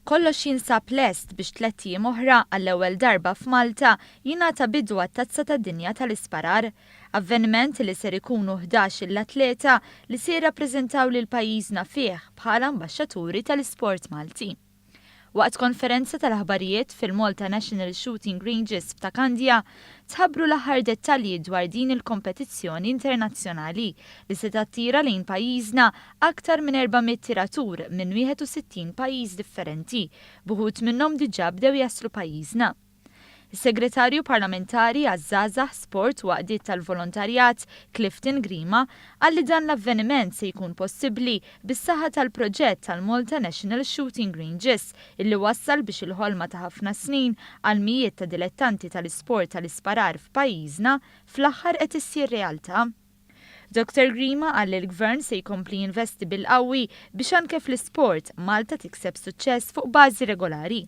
Kollox jinsab lest biex tlett jiem oħra, għall-ewwel darba f'Malta, jingħata bidu għat-Tazza tad-Dinja tal-Isparar. Avveniment li ser ikunu ħdax il atleta li se jirrappreżentaw lil pajjiżna fih bħala ambaxxaturi tal-isport Malti. Waqt konferenza tal-aħbarijiet fil-Malta National Shooting Ranges f'Ta' Kandja, tħabbru l-aħħar dettalji dwar din il-kompetizzjoni internazzjonali li se tattira lejn pajjiżna aktar minn 400 tiratur minn 61 pajjiż differenti, b'uħud minnhom diġà bdew jaslu pajjiżna. Is-Segretarju Parlamentari għaż-Żgħażagħ, Sport u Għaqdiet tal-Volontarjat, Clifton Grima, qal li dan l-avveniment se jkun possibbli bis-saħħa tal-proġett tal-Malta National Shooting Ranges illi wassal biex il-ħolma ta' ħafna snin għal mijiet ta' dilettanti tal-isport tal-isparar f'pajjiżna fl-aħħar qed issir realtà. Dottor Grima qal li l-Gvern se jkompli jinvesti bil-qawwi biex anke fl-isport, Malta tikseb suċċess fuq bażi regolari.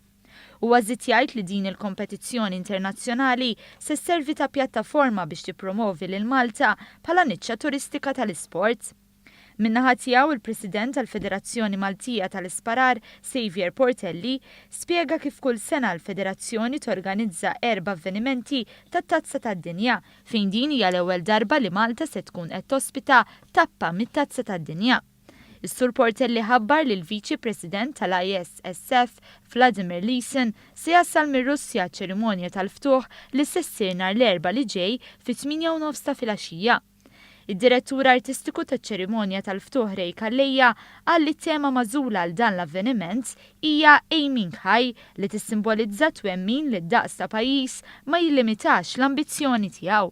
Huwa żied jgħid li din il-kompetizzjoni internazzjonali se sservi ta' pjattaforma biex tippromovi lil Malta bħala niċċa turistika tal-isport. Min-naħa tiegħu il-President tal-Federazzjoni Maltija tal-Isparar, Saviour Portelli, spjega kif kull sena l-federazzjoni torganizza erba' avvenimenti tat-Tazza tad-Dinja, fejn din hija l-ewwel darba li Malta se tkun qed tospita tappa mit-Tazza tad-Dinja. Is-Sur Portelli ħabbar li l-Viċi President tal-ISSF, Vladimir Lysin, se jasal mir-Russja għaċ-ċerimonja tal-ftuħ li se ssir nhar l-Erbgħa li ġej fit-tmienja u nofs ta' filgħaxija. Id-Direttur Artistiku taċ-ċerimonja tal-ftuħ Ray Calleja qal li t-tema magħżula għal dan l-avveniment hija Aiming High li tissimbolizza t-twemmin li d-daqs ta' pajjiż ma jillimitax l-ambizzjoni tiegħu.